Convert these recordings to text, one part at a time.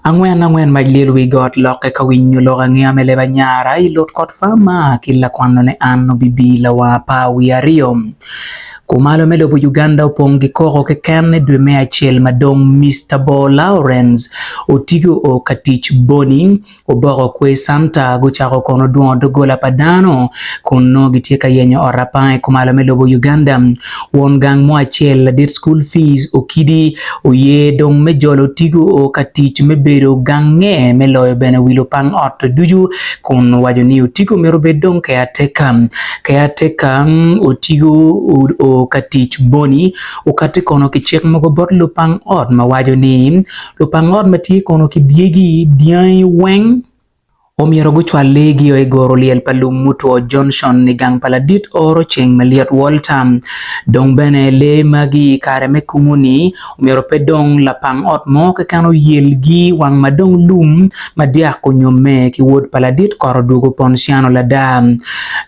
Angwen angwen mac lyel wi got lokke ka winyo lok angeya me leb anyara i lutkot pa ma ki lakwannone an obibi lawanga pa wiye aryo. Kumalo me lobo Uganda opong ki koko keken i dwe me acel madong Mister Bor Lawrence otigo o ka tic boni Oboko kwe center gucako kono dwongo doggola pa dano kun nongo gitye ka yenyo ot apanga i kumalo me lobo Uganda. Won gang mo acel ladit school fees okidi oye dong me jolo otigo oo ka tic me bedo gange me loyo bene wi lupang ot ducu kun owaco ni otigo myero obed dong keateka. Keateka otigo oo ka tic boni okati kono ki cik mogo bot lupang ot ma waco ni lupang ot ma tye kono ki dyegi, dyangi weng omyero gucwal leegi o i goro lyel pa lum mutwo Johnson i gang pa ladit oro ceng malyet Walter. Dong bene lee magi i kare me kumu-ni omyero pe dong lapang ot mo keken oyelgi wang ma dong lum ma dyak onyomme ki wod pa ladit kot odwogo Ponciano lada.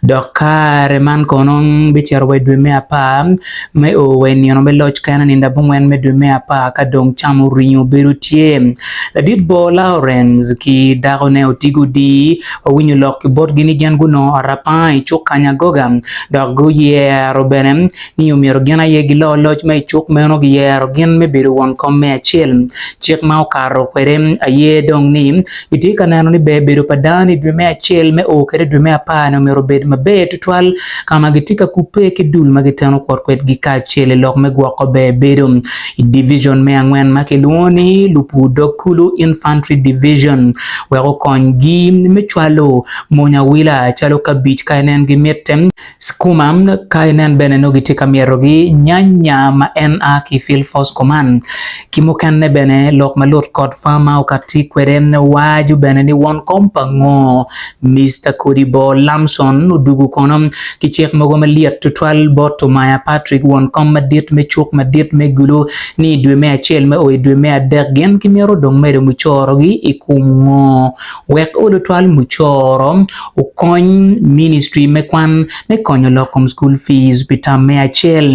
Dok kare man kono bicito wa i dwe me apar. Me o wa i nino me loc kene, nindo abongwen me dwe me apar ka dong cam oringo obedo tye, ladit bor Lawrence ki dakone oti gudii wa winyo lok ki botgi ni gin gunongo arapanga i cuk Kanyagoga dok guyero bene ni omyero gin aye gilo loc ma i cuk meno. Giyero gin me bedo won kom me acel, cik ma okato kwede aye dong ni, Itye ka neno ni ber bedo pa dano i dwe me acel me oo kede i dwe me apar-ni omyero obed maber tutwal ka ma gitye ka kubbe ki dul ma giteno kwot kwedgi kacel i lok me gwoko ber bedo i Divicion me Angwen ma kilwongo ni Lupur Dog Kulu, Infantry Division, wek okonygi me cwalo mony awila calo kabic ka en en gimitte. Skuma, ka inen bene nongo gitye ka myetogi, nyanya ma en a ki Field Force Command, ki mukene bene lok ma lut kod farmer okatti kwede waco bene ni won kom pa ngo, Mister Kodibo Lamson odugu kono ki cik mogo malyet tutwal bot Tumaya Patrick won kom madit me cuk madit me Gulu ni idwe me acel me o idwe me adek gin kimito dong medo mucoro gi ikum ngo. Wek lutwal mucoro okony ministry me kwan me konyo lok kom school fees pi tam me acel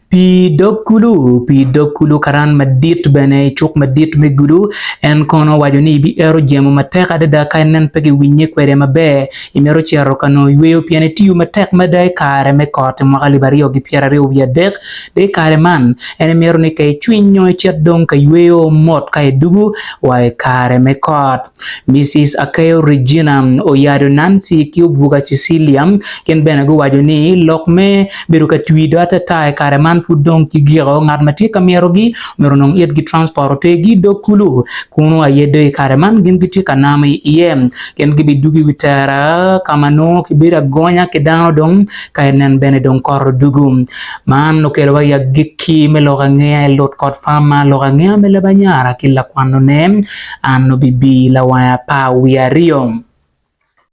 pi dog kulu pi dog kulu karan madit bene i cuk madit me gulu en kono owaco ni bi ero jemo matek adada ka nen pe giwinye kwede maber Imito cito ka nongo yweyo pien itiyo matek mada i kare me kot i mwaka alip aryo ki pyeraryo wiye adek? De i kare man, en imito ni ka icwiny nyo icit dong ka yweyo mot ka idugu wa i kare me kot. Misis Akeyo Regina, Oyado Nancy, ki Obuga Cecilia gin bene guwaco ni lok me bedo ka twi do atata i kare man pud dong ki giko. Ngat ma tye ka myero-gi myero onong itgi transport otergi dog kulu, kunu aye do i kare man gin gitye ka namo iye. Gin gibidwogo i wi tera ka ma nongo kibedo agonya ki dano dong, ka enen bene dong kot odwogo. Man okelowa i agikki me lok angeya i Lut kod Fama, lok angeya me leb anyara ki lakwanone, An obibir lawanga apar wiye aryo.